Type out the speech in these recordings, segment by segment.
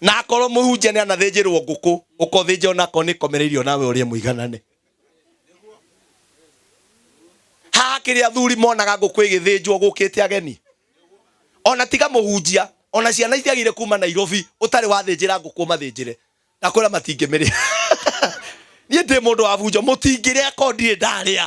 na akorwo mũhunjia nĩ anathĩnjĩrwo ngũkũ ũkothĩnja onakorwo nĩ komereirio nawe ũrĩe mũiganane haha kĩrĩa athuri monaga ngũkũ ĩgĩthĩnjwo gũkĩte ageni ona tiga mũhunjia ona ciana itiagire kuma nairobi ũtarĩ wathĩnjĩra ngũkũ mathĩnjĩre na kwĩra matingĩmĩrĩa niĩ ndĩ mũndũ wa bunjo mũtingĩrĩa ko ndirĩ ndarĩa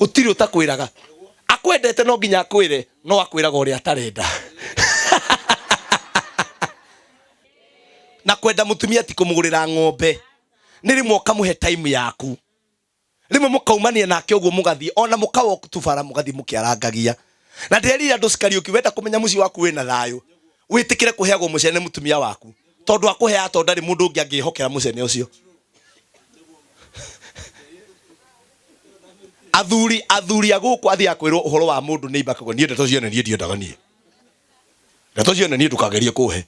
gũtirĩ ũtakwĩraga akwendete no nginya akwĩre no akwĩraga ũrĩa atarenda na kwenda mutumia ti kumugurira ng'ombe ni rimwe ukamuhe time yaku rimwe mukaumania nake uguo mugathie ona mukawa tubara mugathie mukiarangagia na ndirerira andu cikariuki wenda kumenya muci waku wina thayo wĩtĩkĩre kũheagwo mũcene nĩ mũtumia waku tondũ akũheaga tondũ ndarĩ mũndũ ũngĩ angĩhokera mũcene ũcio athuri athuri a gũkũ athiaga kwĩrwo ũhoro wa mũndũ nĩ ibakago niĩ ndeto cione niĩ ndiendaga niĩ ndeto cione niĩ ndũkagerie kũhe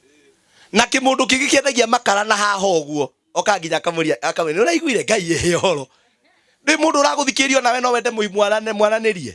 na kĩmũndũ kĩngĩ kĩendagia makara na haha ũguo oka nginya akamũria akamwĩra nĩ ũraiguire ngai ĩhe ũhoro ndĩ mũndũ ũragũthikĩrĩria nawe no wende mũi- mwarane- mwaranĩrie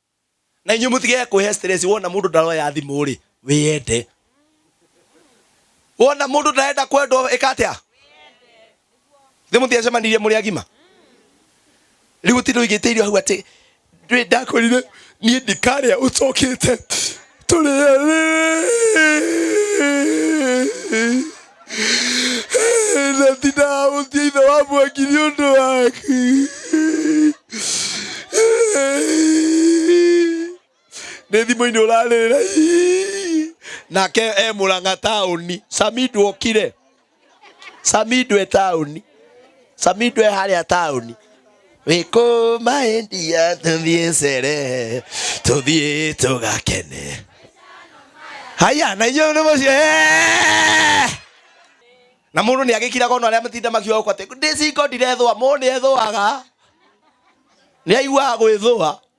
na inyuĩ mũtige kwĩhe stress wona mũndũ ndaroya thimũ rĩ wĩyende wona mũndũ ndarenda kwendwo ĩka atĩa thĩ mũtiacemanirie mũrĩ agima rĩu ti ndũigĩte irio hau atĩ ndakũrire niĩ ndikarĩa ũcokĩte na ndinahũtia ithe wa mwaki nĩ ũndũ waku nĩ thimũ-inĩ ũrarĩra nake e mũrang'a taũni samidu okire samido e taũni samido e harĩa taũni wĩkũma endia tũthiĩ cere tũthiĩ tũgakene haya na inyuĩ nĩ mũcio "Eh!" na mũndũ nĩ agĩkiraga ona arĩa matinda makiuga gũkũ atĩ ndĩcingo ndirethũa mũndũ nĩ ethũaga nĩ aiguaga gwĩthũa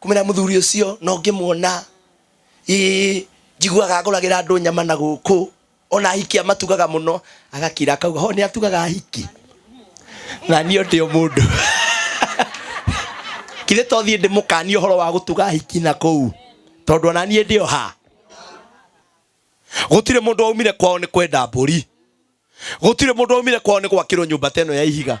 Kumĩra mũthuri ũcio na ũngĩmuona, ĩĩ, njiguaga agũragĩra andũ nyama na gũkũ, o na ahiki amatugaga mũno, agakira akauga, ho nĩ atugaga ahiki? Na niĩ o ndĩ o mũndũ. Kithĩ to thiĩ ndĩmũkanie ũhoro wa gũtuga ahiki na kũu, tondũ o na niĩ ndĩ o ha. Gũtirĩ mũndũ waumire kwao nĩ kwenda mbũri. Gũtirĩ mũndũ waumire kwao nĩ gwakĩrwo nyũmba ta ĩno ya ihiga.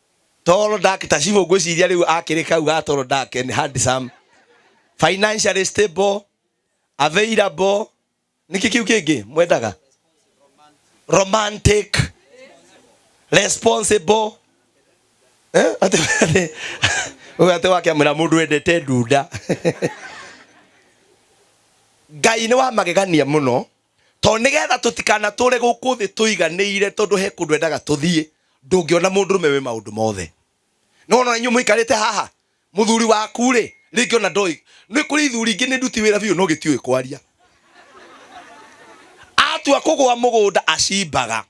Tall dark ta cibũ ngwĩciria rĩu akĩrĩ kau ga tall dark and handsome financially stable available nĩkĩ kĩu kĩngĩ mwendaga romantic responsible Eh, atĩ atĩ- ũyũ atĩ wake amwĩra mũndũ wendete ndunda ngai nĩ wa magegania mũno to nigetha tutikanatũre gũkũ thĩ tũiganĩire tondũ he kũndũ endaga tũthiĩ ndũngĩona mũndũ rũme wĩ maũndũ mothe nĩ wona inyuĩ mũikarĩte haha mũthuri waku rĩ rĩngĩ ona ndoĩ nĩ kũrĩ ithuri ingĩ nĩ nduti wĩra biũ no gĩtiũĩ kwaria atua kũgũa mũgũnda acimbaga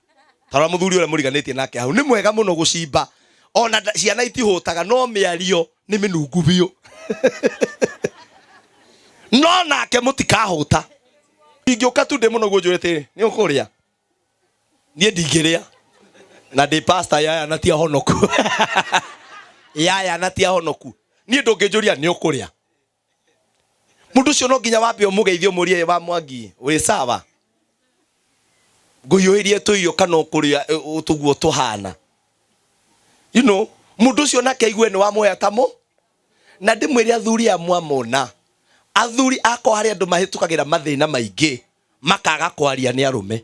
tarora mũthuri ũrĩa mũriganĩtie nake hau nĩ mwega mũno gũcimba ona nda- ciana itihũtaga no mĩario nĩ mĩnungu biũ no nake mũtikahũta ingĩũka tu ndĩ mũno guo njũrĩte rĩ nĩ ũkũrĩa niĩ ndingĩrĩa na ndĩ pasta yaya na ti ahonoku yaya na ti ahonoku niĩ ndũngĩnjũria nĩ ũkũrĩa mũndũ ũcio no nginya wambe ũmũgeithie ũmũrie wa mwangi wĩ sawa ngũhiũhĩrie tũirio kana ũkũrĩa ĩ, ũ- tũguo tũhana you know, mũndũ ũcio nake aigue nĩ wamũhea ta mũ Na ndĩmwĩre athuri a Mũamona, Athuri akwa harĩ andũ mahĩtũkagĩra mathĩna maingĩ makaga kwaria nĩ arũme.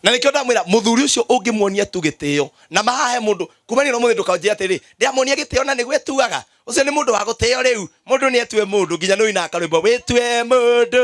Na nĩkĩo ndamwĩra mũthuri ũcio ũngĩmuonia tu gĩtĩo na mahahe mũndũ kumania na ũmũthĩ ndũkanjĩre atĩrĩ ndĩramuonia gĩtĩo na nĩguo etuaga ũcio nĩ mũndũ wa gũtĩo rĩu mũndũ nĩ etue mũndũ nginya nĩ ũinaga karwĩmbo wĩtue mũndũ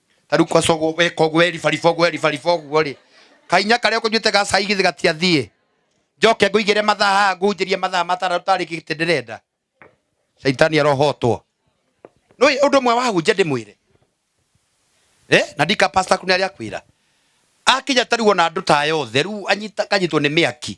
taru kwacogo weka ũguo weribariba ũguo weribariba ũguo rĩ kainya karĩa ũkũnyuĩte ga cai githĩ gatiathiĩ njoke ngũigĩre mathaa haha ngunjĩrie mathaa mataratu tarĩ gĩtĩ ndĩrenda caitani arohotwo nũĩ ũndũ ũmwe wahunjia ndĩmwĩre eh? na ndika pasta kunarĩa kwĩra akinya taruo na andũ taya othe rĩu anyita kanyitwo nĩ mĩaki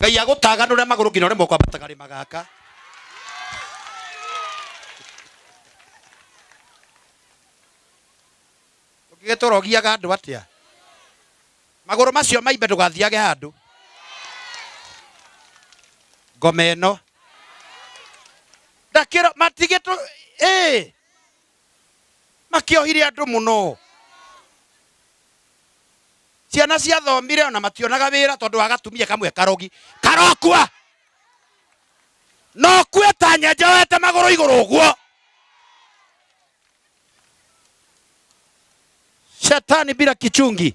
ngai agũtaganũre magũrũ nginya ũremwo kwambata karĩma gaka ũngĩgĩtũra ũgiaga andũ atĩa magũrũ macio maimbe ndũgathiage handũ ngoma ĩno ndakĩro matigĩtũ ĩĩ makĩohire andũ mũno ciana ciathomire ona mationaga wĩra tondũ wa gatumia kamwe karogi karokua no kue ta nyenje wete magũrũ igũrũ ũguo shetani bila kichungi